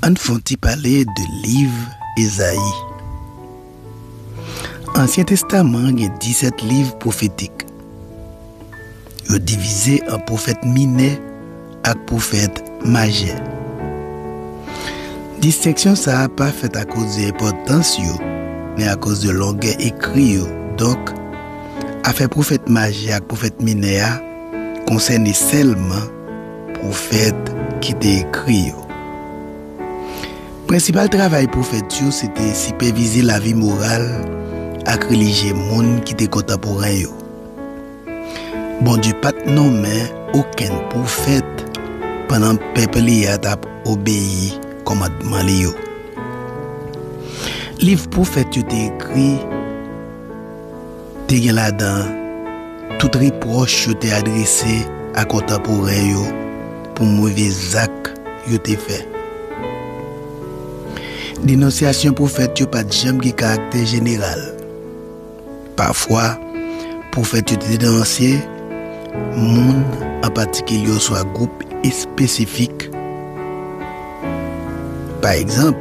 Ann fè yon ti pale de liv Ezayi. Ansyen Testaman an gen disèt liv pwofetik. Yo divize an pwofèt minè ak pwofèt majè. Distenksyon sa a pa fèt akoz de enpòtans yo, men akoz de longè ekri yo. Donk, afè pwofèt majè ak pwofèt minè a konsène sèlman Pwofèt ki te ekri yo. Prensipal travay pwofèt yo se te sipèvize lavi moral ak relijye moun ki te kontanporen yo. Bondye pa t nonmen okenn pwofèt pandan pèp li a t ap obeyi kòmandman li yo. Liv pwofèt yo te ekri. te gen ladan tout repwòch yo te adrese a kontanporen yo pou move zak yo te fè. Denonsyasyon pwofèt yo pa t janm gen karaktè jeneral. Pafwa, pwofèt yo te denonse moun an patikilye oswa gwoup espesifik. Pa egzanp,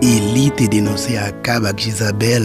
Eli te denonse Akab ak Jezabèl.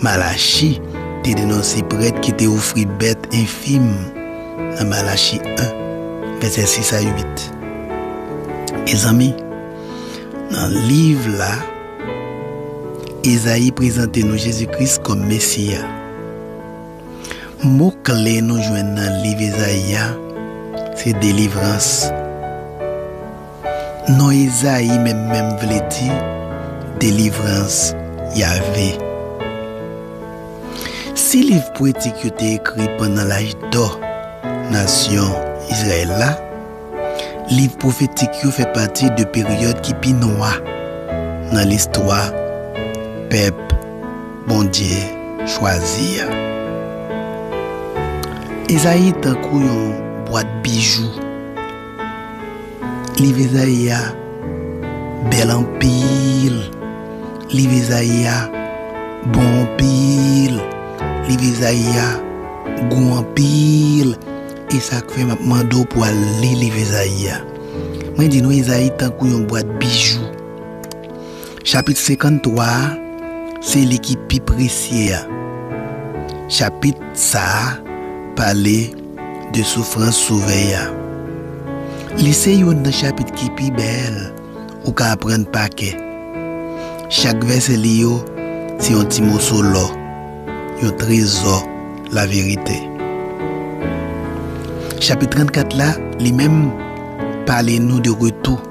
Malachi te denonse prèt ki te ofri bèt enfim nan Malachi 1, vèsè 6 a 8. Mezanmi, nan liv la, Ezayi prezante nou Jezi Kris kòm Mesi a. Mo kle nou jwenn nan liv Ezayi a se delivrans. Non Ezayi menm menm vle di Delivrans Yave. Si liv pwetik yo te ekri pandan Lajdò nasyon Izrayèl la, liv pwofetik yo fè pati de peryòd ki pi nwa nan listwa pèp Bondye chwazi a. Ezayi tankou yon bwat bijou. Liv Ezayi a bèl anpil Liv Ezayi a bon anpil Liv Ezayi a gou anpil E sa k fè m ap mande w pou w al li liv Ezayi a Mwen di nou Ezayi tankou yon bwat bijou Chapit 53 a se li ki pi presye a Chapit sa a pale De soufrans Sovè a. Li se youn nan chapit ki pi bèl ou ka aprann pa kè. Chak vèsè li yo se yon ti moso lò, yon trezò laverite. Chapit 34 la, li menm, pale nou de retou.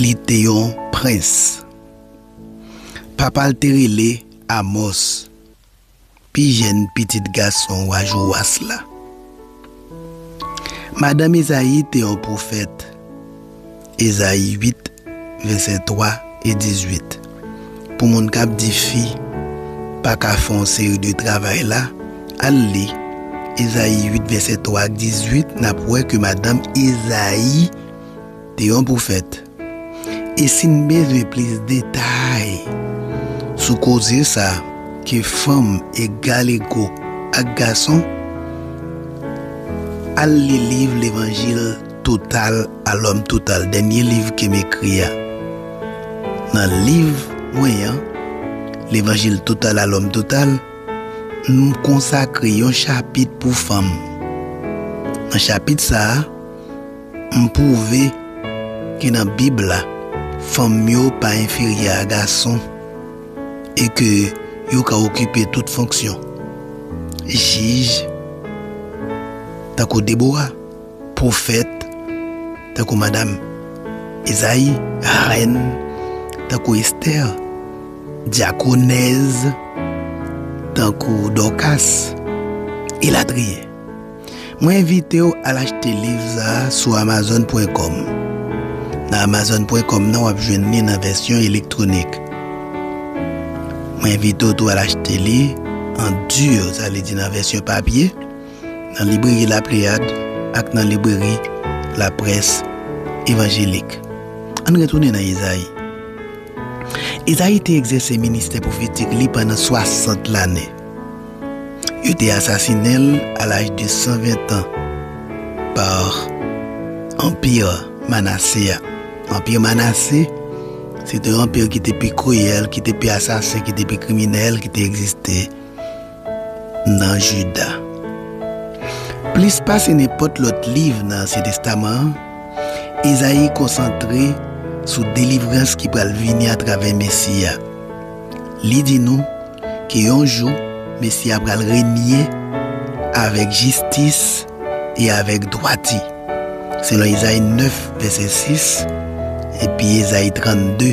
Li te yon prens. Papa l te rele Amòs, pi jèn pitit gason wa Jowas la. Madanm Izayi te yon pwofèt, Izayi 8, vèsè 3 e 18. Pou moun kap di fi paka fè yon seri de travay la, al li Ezayi 8 vèsè 3 ak 18 nap wè ke madanm Ezayi te yon pwofèt. E sin bezwen plis detay sou koze sa ke fanm egal ego ak gason, al li liv Levanjil. Total a L'homme Total, dènye liv ke m ekri a. Nan liv mwen an, L'Evangile Total à l'Homme Total, m konsakre yon chapit pou fanm. Nan chapit sa a, m pwouve ke nan Bib la, fanm yo pa enferyè a gason e ke yo ka okipe tout fonksyon jij, tankou Debora. Pwofèt, tankou Madam Ezayi, rèn, tankou Estè, dyakonèz, tankou Dòkas, elatriye. Mwen envite w al achte liv sa a sou amazon pwen kòm. Nan amazon pwen kòm nan w ap jwenn li nan vèsyon elektwonik. Mwen envite w tou al achte li an dur, sa vle di nan vèsyon papye. nan Libreri La Pléiade ak nan Libreri La Presse Évangélique. Ann retounen nan Izayi. Izayi te egzèse ministè pwofetik li pandan swasant lane. Yo te asasinen l a laj de san ventan pa Anpi Manase a. Anpi Manase se te anpi ki te pi kriyèl, ki te pi asasen, ki te pi kriminèl ki te egziste. nan Jida. Plis pase nenpòt lòt liv nan Ansyen Testaman an, Izayi konsantre sou delivrans ki pral vini atravè Mesi a. Li di nou ke yon jou Mesi a pral renye avèk jistis e avèk dwati, selon Izayi 9, vèsè 6, epi Ezayi 32.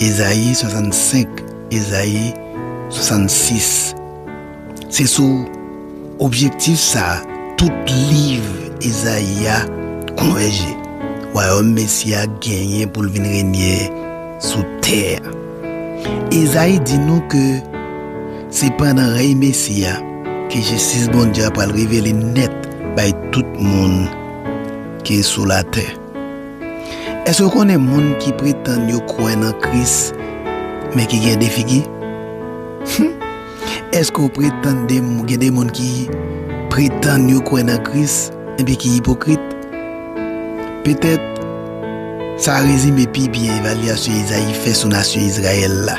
Ezayi 65, Ezayi 66. Se sou objektif sa a tout liv Ezayi a konvèje, Wayòm Mesi a genyen pou l vin renye sou tè a. Ezayi di nou ke se pandan rèy Mesi a ke jistis Bondye a pral revele nèt bay tout moun ki sou latè. Èske w konnen moun ki pretann yo kwè nan Kris, men ki gen de figi? Hum! Èske w pretann de gen de moun ki pretann yo kwè nan Kris, enpi ki ipokrit? Petèt sa rezime pi byen evalyasyon Izayi fè sou nasyon Izrayèl la.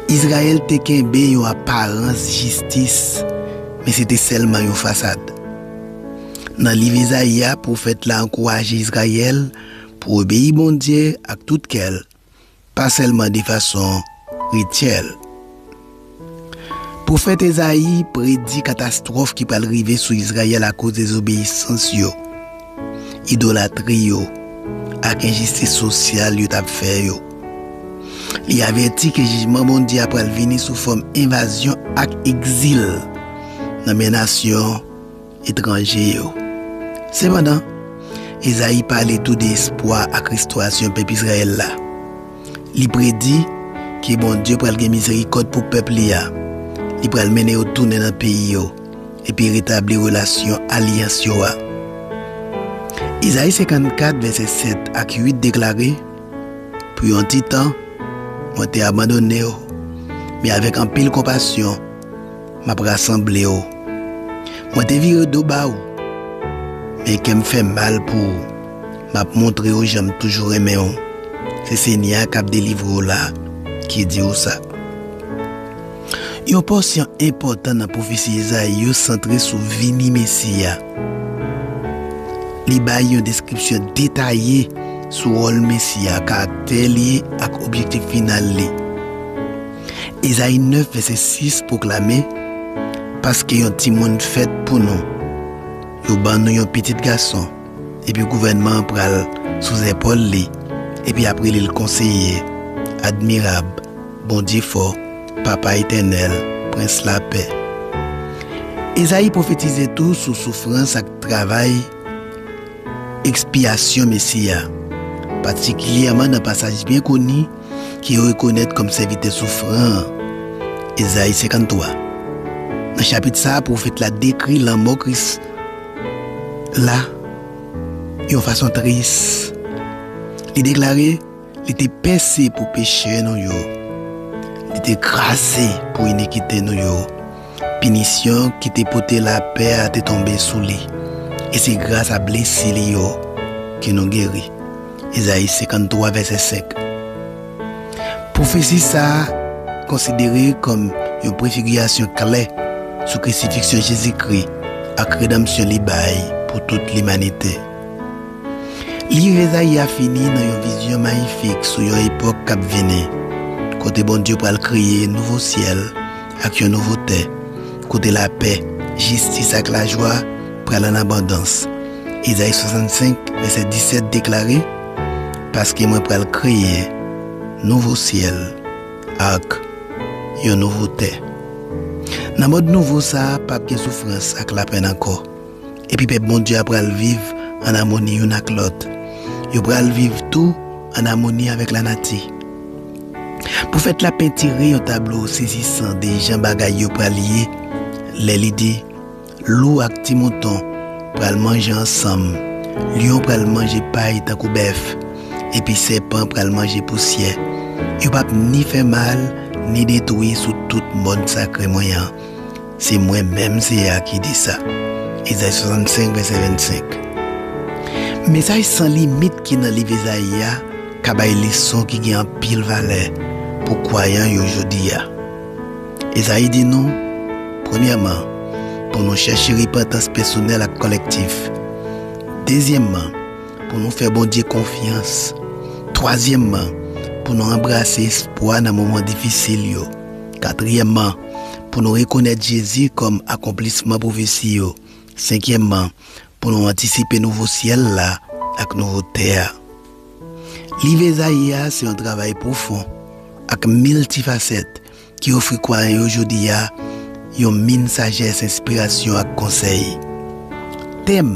Izrayèl te kenbe yon aparans jistis, men se te sèlman yon fasad. Nan liv Izayi a, pwofèt la ankouraje Izrayèl pou obeyi Bondye ak tout kè l, pa sèlman de fason rityèl. Pwofèt Ezayi predi katastwòf ki pral rive sou Izrayèl akoz dezobeyisans yo, idolatri yo ak enjistis sosyal yo t ap fè yo. Li avèti ke jijman Bondye a pral vini sou fòm envazyon ak egzil nan men nasyon etranje yo. Sepandan, Ezayi pale tou de espwa ak restorasyon pèp Izrayèl la. Li predi ke Bondye pral gen mizerikòd pou pèp li a, li pral mennen yo tounen nan peyi yo epi retabli relasyon alyans yo a. Ezayi 54, vèsè 7 ak 8 deklare. Pou yon ti tan, mwen te abandone w, men avèk anpil konpasyon, m ap rasanble w. Mwen te vire do ba w, men kè m fè mal pou w, m ap montre w jan m toujou renmen w. Se Senyè a k ap delivre w la ki di w sa. Yon pòsyon enpòtan nan pwofesi Izayi yo santre sou vini Mesi a. Li bay yon deskripsyon detaye sou wòl Mesi a, karaktè li, ak objektif final li. Izayi 9, vèsè 6, pwoklame, Paske yon timoun fèt pou nou, yo ban nou yon pitit gason, epi gouvènman an pral sou zèpòl li, epi y ap rele l Konseye, Admirab, Bondye fò, Papa Etènèl, Prens Lapè. Ezayi pwofetize tou sou soufrans ak travay Ekspyasyon Mesi a, patikilyèman nan pasaj byen koni ki rekonèt kòm Sèvitè Soufran an, Ezayi 53. Nan chapit sa a, pwofèt la dekri lanmò Kris la yon fason tris. Li deklare. Li te pèse pou peche nou yo, li te kraze pou inikite nou yo. Pinisyon ki te pote lapè a te tonbe sou li, e se grasa blesi li yo ke nou geri. Ezayi 53, vèsè 5 Pwofesi sa a konsidere kòm yon prefigirasyon klè sou krisifiksyon Jezikri ak redanmsyon li bay pou tout limanite. Liv Ezayi a fini nan yon vizyon mayifik sou yon epòk k ap vini, kote Bondye pral kreye nouvo syèl ak yon nouvo tè, kote lapè, jistis ak lajwa pral an abondans. Ezayi 65, vèsè 17 deklare, Paske mwen pral kreye nouvo syèl ak yon nouvo tè. Nan mond nouvo sa a, pap gen soufrans ak lapenn ankò. epi pèp Bondye a pral viv ann amoni youn ak lòt. Yo pral viv tou ann amoni avèk lanati. Pwofèt la pentire yon tablo sezisan de jan bagay yo pral ye lè li di, Lou ak ti mouton pral manje ansanm, lyon pral manje pay tankou bèf, epi sèpan pral manje pousyè. Yo pap ni fè mal ni detwi sou tout mòn sakre mwen an. Se mwen menm Seyè a ki di sa. Ezayi 65, vèsè 25 Mesaj san limit ki nan liv Ezayi a ka bay leson ki gen anpil valè pou kwayan yo jodi a. Ezayi di nou, premyèman, pou nou chèche repantans pèsonèl ak kolektif, dezyèmman, pou nou fè Bondye konfyans, twazyèmman, pou nou anbrase espwa nan moman difisil yo, katriyèmman, pou nou rekonèt Jezi kòm akonplisman pwofesi yo, senkyèmman, pou nou antisipe nouvo syèl la ak nouvo tè a. Liv Ezayi a se yon travay pwofon ak miltifasèt ki ofri kwayan yo jodi a yon min sajès, enspirasyon ak konsèy. Tèm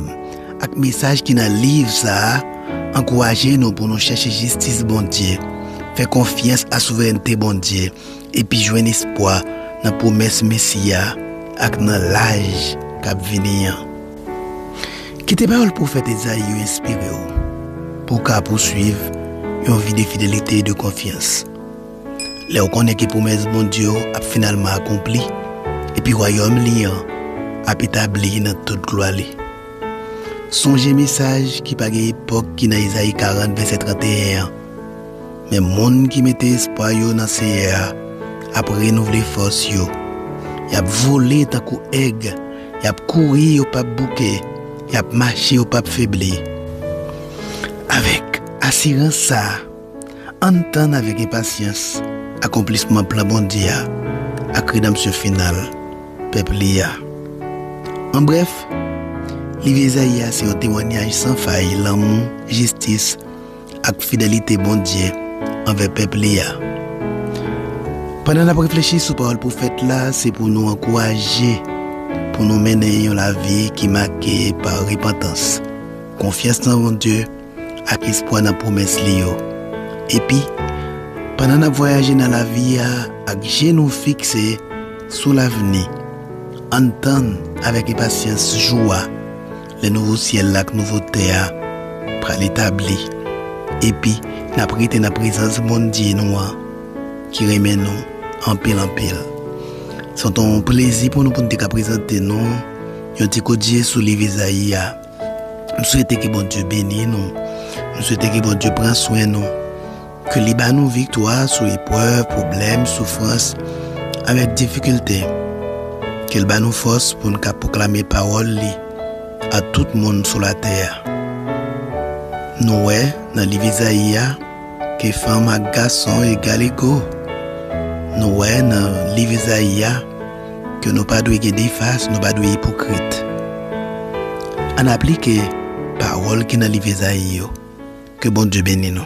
ak mesaj ki nan liv sa a ankouraje nou pou nou chèche jistis Bondye, fè konfyans a souverènte Bondye, epi jwenn espwa nan pwomès Mesi a ak nan laj k ap vini an. Kite pawòl pwofèt Ezayi yo enspire w pou w ka pousuiv yon vi de fidelite e de konfyans. Lè w konnen ke pwomès Bondye yo ap finalman akonpli epi Wayòm li an ap etabli nan tout glwa li, sonje mesaj ki pa gen epòk ki nan Ezayi 40, vèsè 31 an, Men moun ki mete espwa yo nan Seyè a ap renouvle fòs yo, y ap vole tankou èg, y ap kouri, yo pap bouke, y ap mache, yo pap febli. Avèk asirans sa a, ann tann avèk enpasyans akonplisman plan Bondye a ak redanmsyon final pèp li a. An brèf, liv Ezayi a se yon temwanyaj san fay lanmou, jistis, ak fidelite Bondye anvè pèp li a. Pandan n ap reflechi sou pawòl pwofèt la, se pou nou ankouraje pou nou mennen yon lavi ki make pa repantans, konfyans nan Bondye, ak espwa nan pwomès li yo. Epi, pandan n ap vwayaje nan lavi a ak je nou fikse sou lavni, ann tann avèk enpasyans jou a. Lè nouvo syèl la ak nouvo tè a pral etabli, epi n ap rete nan prezans Bondye nou an ki renmen nou anpil anpil, s ap t on plezi pou nou pou n te ka prezante nou yon ti koutje sou liv Izayi a. M swete ke Bondye beni nou. M swete ke Bondye pran swen nou. Ke li ba nou viktwa sou eprèv, pwoblèm, soufrans, avèk difikilte. Ke l ba nou fòs pou n ka pwoklame pawòl li a tout moun sou latè a. Nou wè nan liv Izayi a ke fanm ak gason egal ego. Nou wè nan liv Izayi a ke nou pa dwe gen de fas, nou pa dwe ipokrit. Ann aplike pawòl ki nan liv Izayi yo. Ke Bondye beni nou.